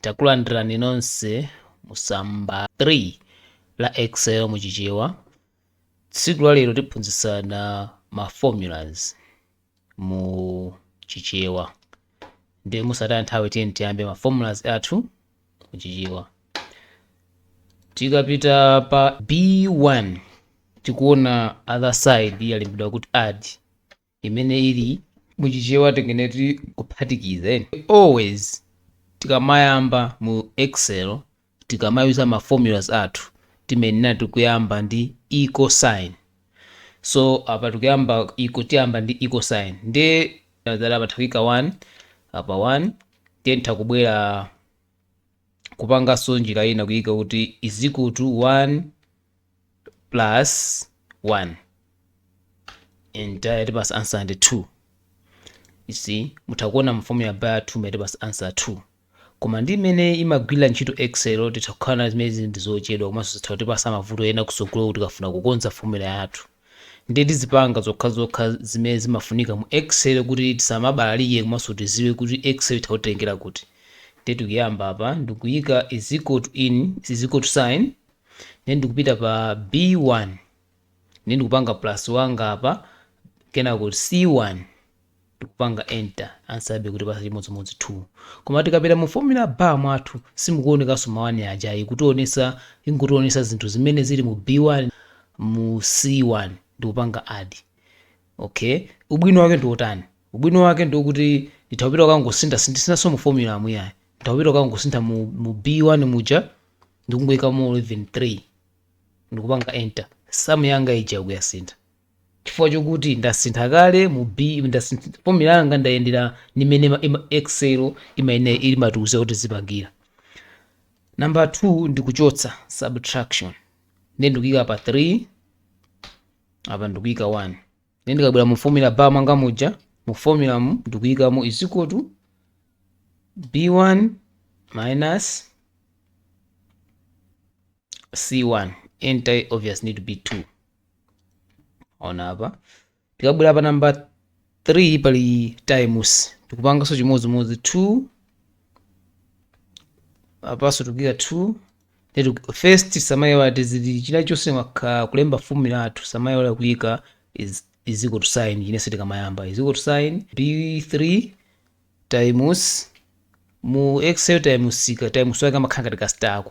Takulandirani nonse mu tsamba 3 la excel mu Chichewa. Tsiku la lero tiphunzitsana ma formulas mu Chichewa. Ndiye mosataya nthawi tiyeni tiyambe ma formulas athu mu Chichewa. Tikapita pa B1 tikuona other side yalembedwa kuti add. imene ili mu chichewa tingene kuti kuphatikiza and always tikamayamba mu excel tikamayuza ma formulas athu timayenera kuyamba ndi equal sign so apa tikuyamba iko tiyamba ndi equal sign ndi zala apa nditha kuika 1 apa 1 ndiye nditha kubwera kupanganso njira ina kuyika kuti is equal to 1 plus 1 and yatipasa answer ndi 2 you see mutha kuona mu formula bar yathu yatipasa answer 2 koma ndi mmene imagwirira ntchito excel zitha kukhala zimenezi ndi zochedwa komanso zitha kutipasa mavuto ena kusogolo kuti tikafuna kukonza fomula yathu Ndiye tizipanga zokhazokha zimene zimafunika mu excel kuti tisamabalalike komanso tidziwe kuti excel itha kutitengera kuti. Ndiye tikuyamba apa ndikuyika is equal to in is equal to sign ndiye ndikupita pa b1 ndiye ndikupanga plus wanga apa kenako c1 ndikupanga enter answer yabe kutipasa chimodzimodzi 2 koma tikapita mu formula bar mwathu simukuonekaso ma 1 aja ayi ikutionesa ingotionesa zinthu zimene zili mu b1 mu c1 ndikupanga add okay ubwino wake ndiotani ubwino wake ndiokuti nditha kupita kukangosintha sindisinaso mu formula mu ayi nditha kupita kukangosintha mu, mu b1 muja ndikungoikamo 3 ndikupanga enter samu yanga ija ikuyasintha chifukwa chokuti ndasintha kale mu B, ndasintha formula yanga ndayendera ndi mmene ma- ima- Excel imayenera imatiuza kuti tizipangira. Number 2 ndikuchotsa subtraction. Ndiye ndikuika apa 3 apa ndikuika 1. Ndiye ndikabwera mu formula bar mwanga muja mu formula mu ndikuikamo is equal to B1 minus C1 enter obvious need to be 2 ona apa tikabwera pa namba 3 pali times tikupanganso chimodzimodzi 2 apanso tikuyika 2 then tiku- first tisamayiwale china chilichonse tikamalemba fomula yathu tisamayiwale kuyika is, is equal to sign chinenso tikamayamba is equal to sign b3 times mu excel times ka times wake amakhala ngati kasitala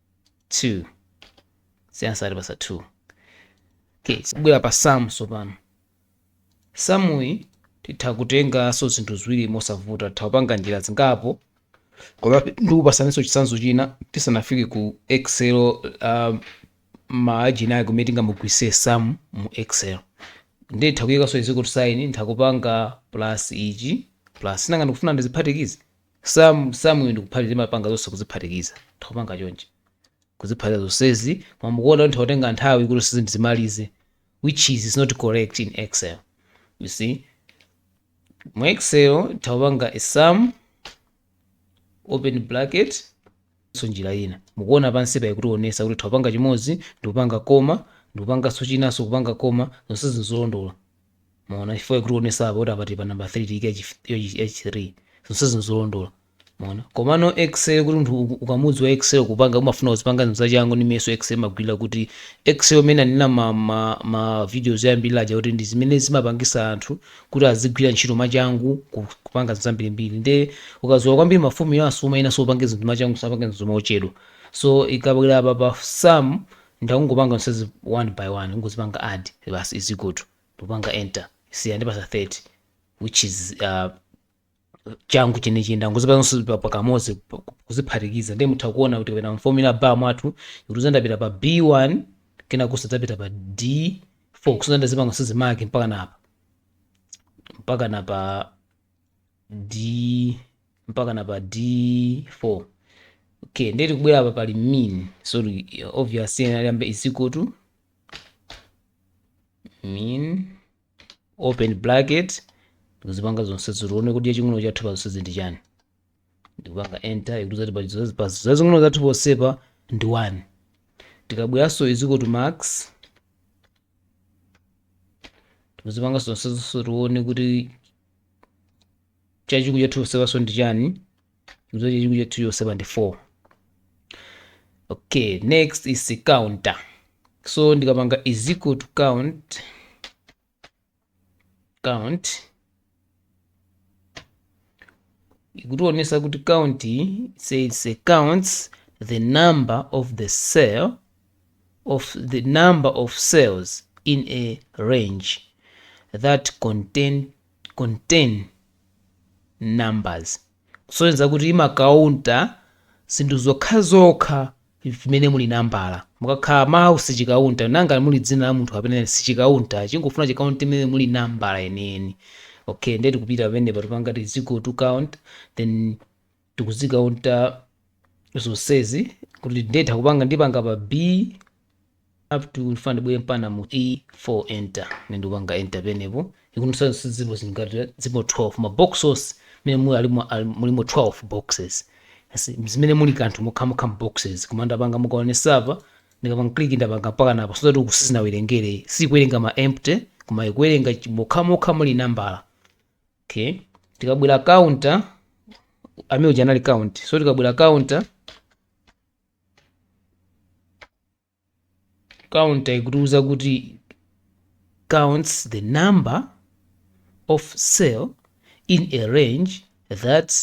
2 iyi ansa atipasa 2 okay kubwera pa sum tsopano sum iyi titha kutenganso zinthu ziwiri mosavuta titha kupanga njira zingapo koma ndikupasaninso chitsanzo china tisanafike ku excel um, maajina ake kumene tingamugwiritse sum mu excel nditha kuyikanso is equal to sign nditha kupanga plus ichi plus sinanga ndikufuna ndiziphatikize Sum, sum iyo ndi kuphatikiza timapanga zonse kuziphatikiza. Titha kupanga chonchi. Kuziphatikiza zonsezi koma mukuona kuti ndikutenga nthawi kuti zonsezi ndizimalize which is is not correct in Excel. You see? Mu Excel tikupanga a sum open bracket so njira ina mukuona pansi pa ikutionesa kuti titha kupanga chimodzi ndikupanga koma ndikupanganso chinanso kupanga koma zonsezi nzolondola Mwaona, chifukwa ikutionesa apa kuti apa tili pa number 3 tiyike ya chi- yo chi- ya chi 3 zonsezi nzolondola. Mwaona, komano excel kuti munthu uku- ukamudziwa excel kupanga umafuna uzipanga zinthu zachangu ndi mmeneso excel imagwirira kuti excel mmene ndinanena ma, ma, ma videos oyambirira aja kuti ndi zimene zimapangisa anthu kuti azigwira ntchito mwachangu ku- kupanga zinthu zambirimbiri nde ukadziwa kwambiri maformula so umayenanso upange zinthu mwachangu usapange zinthu mochedwa so ikabwera apa pa sum nditha kungopanga zonsezi one by one ungozipanga add basi is equal to ndikupanga enter see yandipasa 30 which is uh, changu chenichi ndangozipanga zonse pa- pakamodzi pa- kuziphatikiza ndiye mutha kuona kuti kapena mu formula bar mwathu kuti zandapita pa b1 kenako zadzapita pa d4 kusadzandazipanga zonsezi max mpaka napa mpaka napa d mpaka na pa d4 okay ndiye tikubwera apa pali min so ti- obviously tiyambe is equal to min open bracket tikuzipanga zonse zitione kuti chaching'ono chathu pa zonse ndi chani ndikupanga enter ikuti zati pa zonse- pa zazing'ono zathu ponsepa ndi 1 tikabweranso is equal to max tikuzipanga zonse zonse tione kuti chachikulu chathu chonsepanso ndi chani mzo chachikulu chathu chonsepa ndi 4 okay next is counter so ndikapanga is equal to count count ikutionesa kuti count says, says it counts the number of the cell of the number of cells in a range that contain, contain numbers kusonyeza kuti imakaunta zinthu zokhazokha zimene muli nambala mukakhala mawu sichikaunta ngati muli dzina la munthu kapena sichikaunta chingofuna chikaunte imene muli nambala yeniyeni okay ndiye tikupita pamenepa tipanga is equal to count then tikuzikaunta zonsezi kuti ndetha kupanga ndipanga pa b up to ndifuna ndibwere mpaka mu e 4 enter mene ndikupanga enter penepo ikundionetsa zipo zingati zipo 12 maboxes mene muli alimo ali- mulimo 12 boxes Asi- zimene muli kanthu mokhamokha boxes koma ndapanga mukaonesa apa ndikapanga click ndapanga mpaka napo so that kuti isinawerengere sikuwerenga ma empty koma ikuwerenga chi- mokhamokha muli nambala okay tikabwera counta amene uja anali count so tikabwera counta counta ikutiuza kuti counts the number of cells in a range that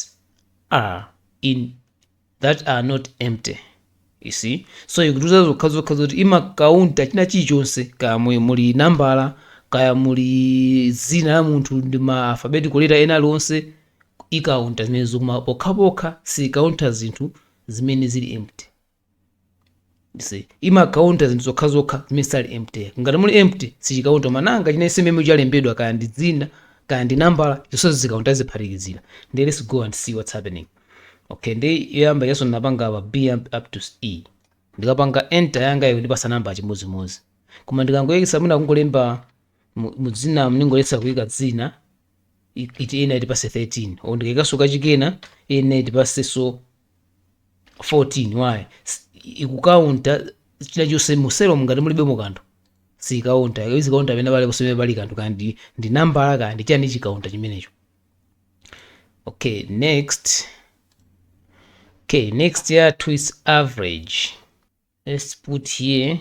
are in that are not empty you see so ikutiuza zokhazokha zoti imakaunta china chilichonse kaya mu- muli nambala kaya muli dzina la munthu ndi ma alphabetical letter ena aliwonse ikaunta zimenezo koma pokhapokha siikaunta zinthu zimene zili empty You see, imakaunta zinthu zokhazokha zimene sali empty ngati muli empty sichikaunta koma china chimene chalembedwa kaya ndi dzina kaya ndi nambala zonsezo zikaunta ziphatikizira then let's go and see what's happening okay ndi yoyamba yanso ndinapanga apa b am- up to e ndikapanga enter yanga ikundipasa namba chimodzimodzi koma ndikangoyekesa mwina kungolemba mu- mu dzina ndingoyesa kuyika dzina i- it iyenera itipase 13 o ndikayikaso kachikena iyenera itipaseso 14 why S- ikukaunta china chonse mu selomu ngati mulibemo kanthu siikaunta izikaunta pena pale ponse pamene pali kanthu kaya ndi ndi nambala kaya ndi chiyani chikaunta chimenecho okay next okay next yathu is average let's put here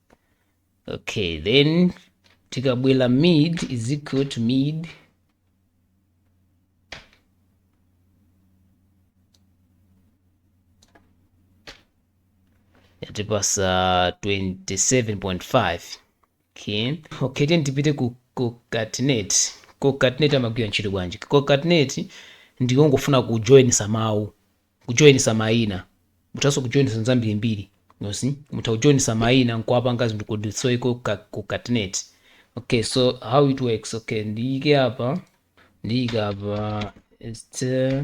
okay then tikabwera med is equal to med yatipasa 27.5 okay okay then tipite ku concatenate concatenate amagwira ntchito bwanji concatenate ndikungofuna kujoinisa mawu kujoinisa maina muthanso kujoinisa zinthu zambirimbiri you see mutha kujoinisa maina nkuwapanga zinthu code so iko concatenate okay so how it works okay ndiyike apa ndiyika apa it's, uh,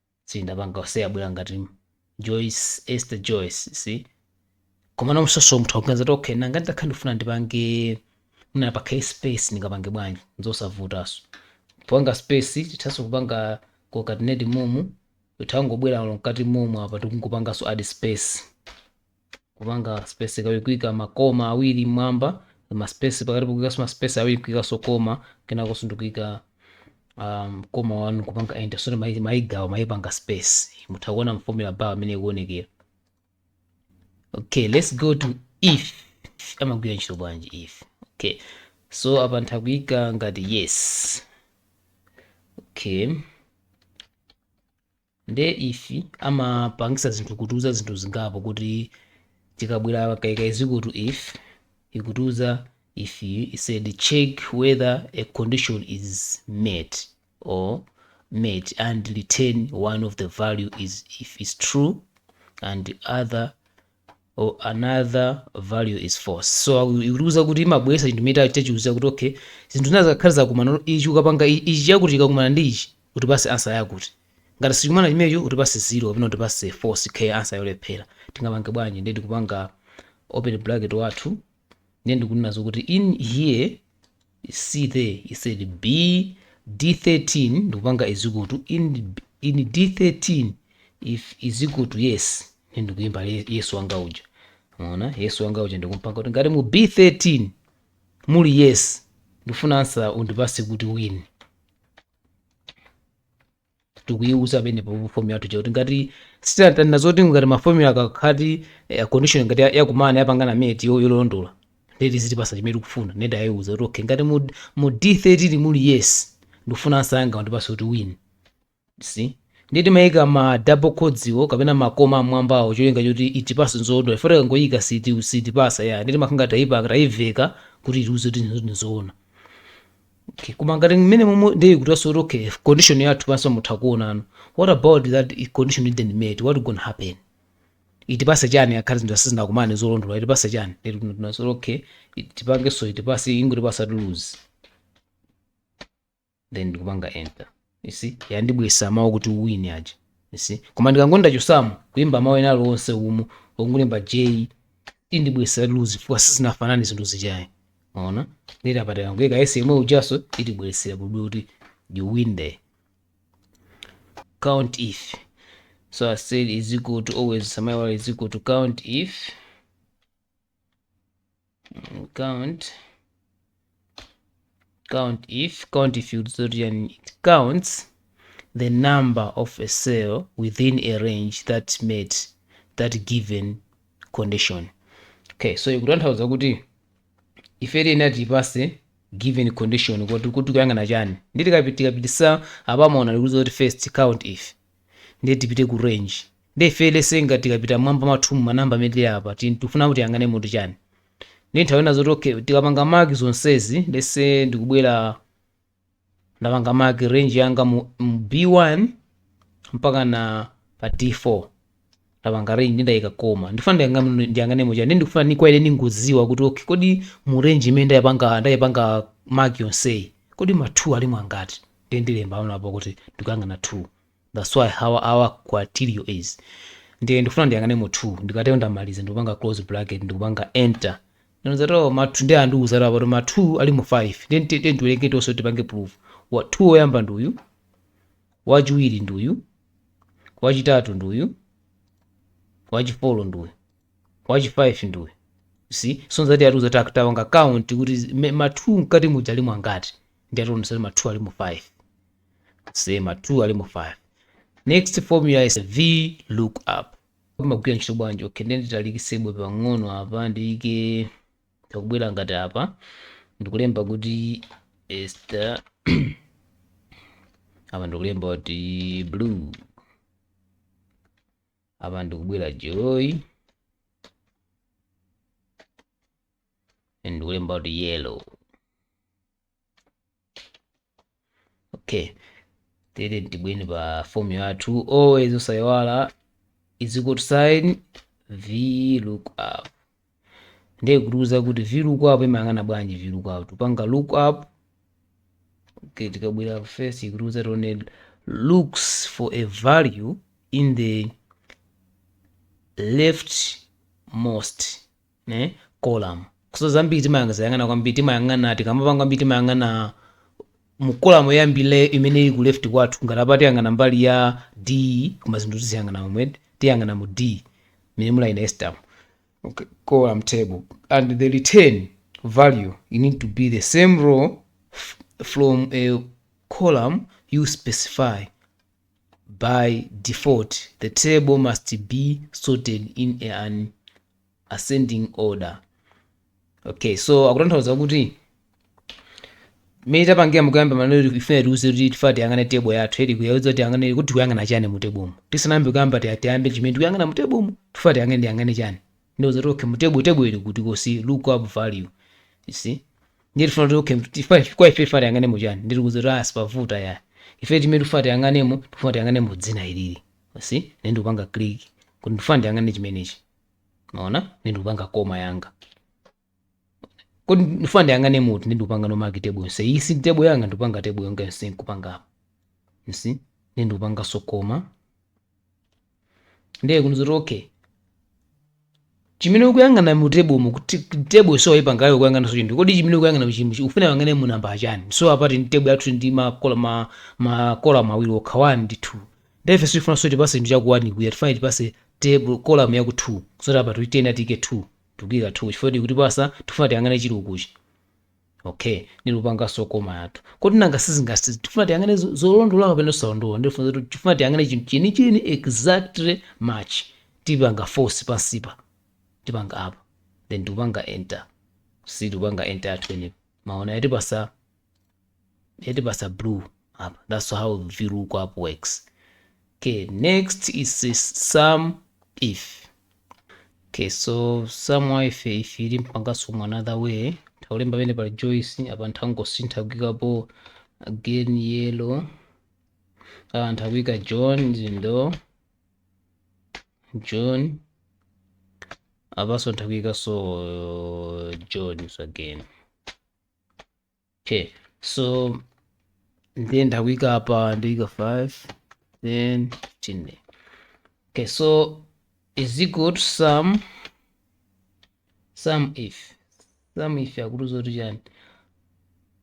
sindinapange space abwera ngati Joyce Esther Joyce see komano mwinanso munthu akuganiza kuti okay nanga nditakhala ndifuna ndipange mwina pakhale space ndingapange bwanji nzosavutaso kupanga space tithaso kupanga concatenate mumu titha kungobwera mkati mumu apa tikungopangaso add space kupanga space kawi kuika makoma awiri mmwamba ma space pakati pokuikanso ma space awiri kuikanso koma kenakonso ndikuika um, koma wanu kupanga enter soti mai- maigawa maipanga space mutha kuona mformula bar amene ikuonekera okay let's go to if amagwira ntchito bwanji if okay so apa ntha kuika ngati yes okay Nde if amapangisa zinthu kutiuza zinthu zingapo kuti tikabwela kayika is equal to if ikutiuza if it said check whether a condition is met or met and return one of the value is if is true and other or another value is false so aku- ikutiuza kuti imabwesa chinthu mita chachiuza kuti okay zinthu zina zikakhala zakumana olo ichi ukapanga i- ichi chakuti chikakumana ndi ichi utipase ansa yakuti ngati sichikumana chimecho utipase zero kapena utipase false ikhale ansa yolephera tingapange bwanji ndiye tikupanga open bracket wathu ndiye ndikunena zokuti in here see there I said b d13 ndikupanga is equal to in, in d13 if is equal to yes ndiye ndikulemba yes wanga uja mwaona yes wanga uja ndikumpanga kuti ngati mu b13 muli yes ndifuna ansa undipase kuti win tikuyiuza pene pa formula yathu chakuti ngati sitatani nazoti ngati maformula akakhati eh, condition ngati ya- yakumana yapangana met yo- yolondola ndeti zitipasa chimene tikufuna nde ndayiuza kuti okay ngati mu, mu d13 muli yes ndikufuna ansa yanga undipase kuti win see ndiye timayika ma double quotes wo kapena makoma amwambawo cholinga choti itipase nzoona ifo tikangoyika siti sitipasa ya ndiye timakhala ngati tayipa tayiveka kuti itiuze kuti nzoona Okay, koma ngati mmene momwe ndiye kutaso kuti okay condition yathu panso mutha kuonano what about that i- condition you didn't meet what gonna happen itipase chani akhale zinthu sizinakumane zolondola itipase chani Ndiye kuti tinaso kuti okay it- tipange so itipase ingotipasa lose then ndikupanga enter you see yandibwesa mawu kuti win aja you see koma ndikangoti ndachosamo kulemba mawu ena alionse umu ongolemba j indibwesa lose chifukwa sizinafanane zinthu zijazi mwaona nditi apa tikangoika yes yemwe ujaso itibweresera kuti kuti you win there count if so i said is equal to always osamaiwala is equal to count if count count if count if you zodian it counts the number of a cell within a range that met that given condition okay so ikutanthauza kuti ife tiyenera tiipase given condition kuti tikuyang'ana chani nde tikapitisa apa mwaona ikutiuza kuti first count if Ndiye tipite ku range. Ndiye if let's say ngati tikapita mmwamba mwathumu ma number amene tili apa ti- tikufuna kuti tiyang'anemo ti chani. Ndiye zitanthauza zoti okay tikapanga mark zonsezi let's say ndikubwera ndapanga mark range yanga mu, B1 mpaka na pa D4. ndapanga range ndayika koma ndifuna ndiyang'ane ndiyang'ane muti chani ndikufuna ni criteria ndingodziwa kuti okay kodi mu range imene ndayipanga ndayipanga mark yonseyi kodi ma 2 alimo angati ndi ndilemba pano apo kuti ndikuyang'ana 2 that's why our criteria is ndiye ndikufuna ndiyang'anemo 2 ndikatero ndamaliza ndikupanga close bracket ndikupanga enter ndiye nzotheka ma 2 ndiye andiuza apa kuti ma 2 alimo 5 ndiye ndiwerenge tonse tipange proof wa 2 oyamba ndi uyu Wachiwiri ndi uyu, wachitatu ndi uyu, wachifolo ndi uyu, wachifaifi ndi uyu. You see? So nzati atiuza ta- tapanga count kuti zi- me- ma 2 mkati muja alimo angati. Ndiye ationetsa kuti ma 2 alimo 5. See ma 2 alimo 5. Next formula is V lookup. Imagwira ntchito bwanji? Okay, ndiye nditalikitsebe pang'ono apa ndiyike Takubwera ngati apa ndikulemba kuti Esther apa ndikulemba kuti blue apa ndikubwera joy ndikulemba kuti yellow okay tiyeni tibwere pa formula yathu always osayiwala is equal to sign v look up ndiye ikutiuza kuti v look up imayang'ana bwanji v look up tikupanga look up okay tikabwera first ikutiuza tione looks for a value in the left most column so zambiri timayang'ana yang'ana kwambiri timayang'ana tikamapanga kwambiri timayang'ana mu column yoyambirira imene ili ku left kwathu ngati apa tiyang'ana mbali ya d koma zinthu tiziyang'ana momwe tiyang'ana mu d mmene muli ina Esther mu okay, column table and the return value need to be the same row f- from a column you specify by default the table must be sorted in an ascending order okay so akutanthauza kuti mmene tapangira mukuyamba maneno ifuna tiuze kuti tifuna tiyang'ane tebo yathu ikutiuza kuti tiyang'ane kuti tikuyang'ana chani mu tebomu tisanayambe kuyamba tiya- tiyambe chimene tikuyang'ana mu tebomu tifuna tiyang'ane tiyang'ane chani ndauza kuti okay mu tebo tebo ili kuti because look up value you see ndiye tifuna kuti okay tifa kwa ife tifuna tiyang'ane mu chani ndiri kuza kuti ah sipavuta ya ife chimene tifuna tiyang'anemo tifuna tiyang'ane mu dzina ilili you see ndiye ndikupanga click kuti ndifuna ndiyang'ane chimenechi mwaona ndikupanga comma yanga kodi ndifuna ndiyang'ane muti ndikupanga no mark table yonse iyi see table yanga ndikupanga table yanga yonse nkupanga apa you see ndikupanganso comma ndiye ikunena zoti okay chimene ukuyang'ana mu table mu kuti table so ipanga yayo kuyang'ana so chinthu kodi chimene ukuyang'ana chimbu chi ufuna yang'ane mu namba achani so apati ndi table yathu ndi ma column ma column awiri okha 1 ndi 2 Nde ife sitifuna zoti itipase chinthu cha ku 1 kuya tifuna itipase table, column ya ku 2 so apatu tiyenera tiike 2 tikuika 2 chifukwa yoti ikutipasa tikufuna tiyang'ane chili ukuchi okay ndikupanganso comma yathu kodi nanga sizingasi tifuna tiyang'ane zo- zolondola kapena zosalondola ndi tifuna zoti- tifuna tiyang'ane chinthu chenicheni exactly match tipanga false pansipa tipanga apa then tikupanga enter see tikupanga enter yathu inepo mwaona yatipasa yatipasa blue apa that's how VLOOKUP works okay next is sum if okay so sum if if ili mpangaso mu another way taulemba pene pali Joyce apa nthangosintha kuikapo again yellow ah nthakuika John zindo John apaso nthakuika so John so again okay so ndiye ndakuyika apa ndiyika 5 then 15 okay so is equal to sum sum if sum if akutiuza kuti chani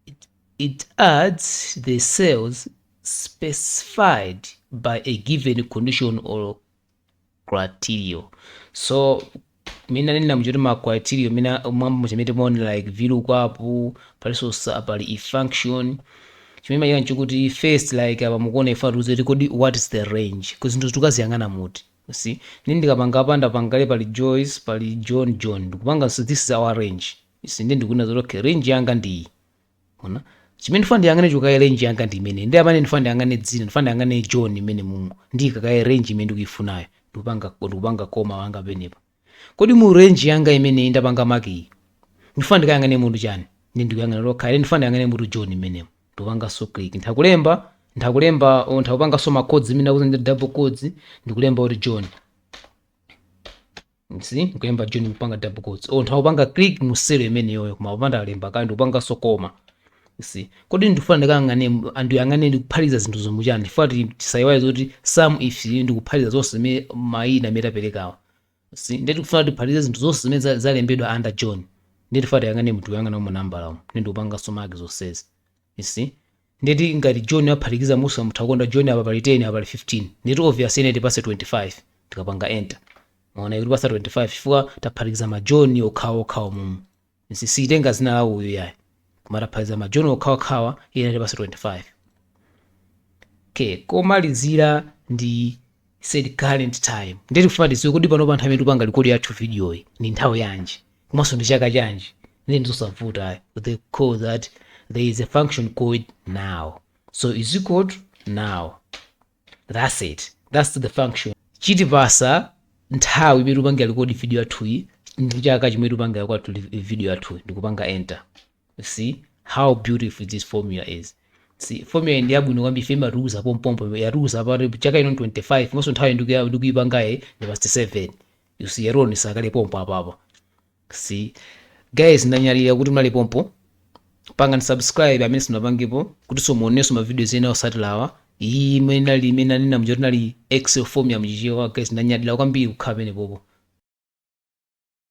it, it adds the cells specified by a given condition or criteria so mina nina mchoti ma criteria mina mwambo chimene timaonera like VLOOKUP palinso sa- pali if function chimene machita nchikuti first like apa mukuona ife atiuze kuti kodi what is the range ku zinthu tikaziyang'ana muti you see ndi ndikapanga apa ndapangale pali joyce pali john john ndikupanga so this is our range you see ndi ndikunena zoti okay range yanga ndi iyi Mwaona? Chimene ndifuna ndiyang'ane chokaye range yanga ndi imene. Ndi amene ndifuna ndiyang'ane dzina, ndifuna ndiyang'ane John imene mumu. Ndiyika kaye range imene ndikuifunayo. Ndikupanga ndikupanga comma wanga pamenepa. Kodi mu range yanga imene ndapanga mark iyi? Ndifuna ndikayang'ane munthu chani? Ndi ndikuyang'ana lokha. Ine ndifuna ndiyang'ane munthu John imenemo. Ndikupanganso click. Nthakulemba nthakulemba or nthakupanganso ma quotes imene akuti ndi double quotes ndikulemba kuti John. you see nkulemba john nkupanga double quotes or nthakupanga click mu cell imeneyoyo koma upanda alemba kandi ndikupanganso comma see kodi ndifuna ndikayang'ane ndiyang'ane ndikuphatikiza zinthu zomwe chani ndifuna ti- tisayiwale zoti sum if ndikuphatikiza zonse zimene mayina amene taperekawa see ndiye tikufuna tiphatikize zinthu zonse zimene za- zalembedwa under john ndiye tifuna tiyang'ane tikuyang'ana umo nambala umo ndi ndikupanganso mark zonsezi You see? Ndeti ngati John aphatikiza Musa mutha kuona John apa pali 10 apa pali 15. Ndeti obvious iyenera itipase 25 tikapanga enter. Mwaona ikutipasa 25 chifukwa taphatikiza ma John okhawo okhawo mumu. You see siitenga dzina la uyu yayi. Koma taphatikiza ma John okhawo okhawa ine tipasa 25. Okay, komalizira ndi insert current time. Ndeti kufuna tiziwe kodi pano pa nthawi imene tikupanga record yathu video iyi ndi nthawi yanji? komanso ndi chaka chanji ndi ndizosavuta ayi they call that there is a function called now so is equal to now that's it that's the function chitipatsa nthawi imene tikupanga record video yathuyi ndi chaka chimene tikupanga kwathu re- video yathuyi ndikupanga enter You see how beautiful this formula is. See, formula iyi ndi yabwino kwambiri ife imatiuza pompompo yatiuza apa kuti chaka ino 25 komanso nthawi ndikuya- ndikuyipangayi ndi past 7 you see error isakhale pompo apapa see guys ndanyadira kuti munali pompo pangani subscribe amene simunapangepo kuti muzionanso mavidiyo ena otsatirawa iyi imene inali imene anena mja kuti inali excel formula m'Chichewa guys ndanyadira kwambiri kukhala penepopo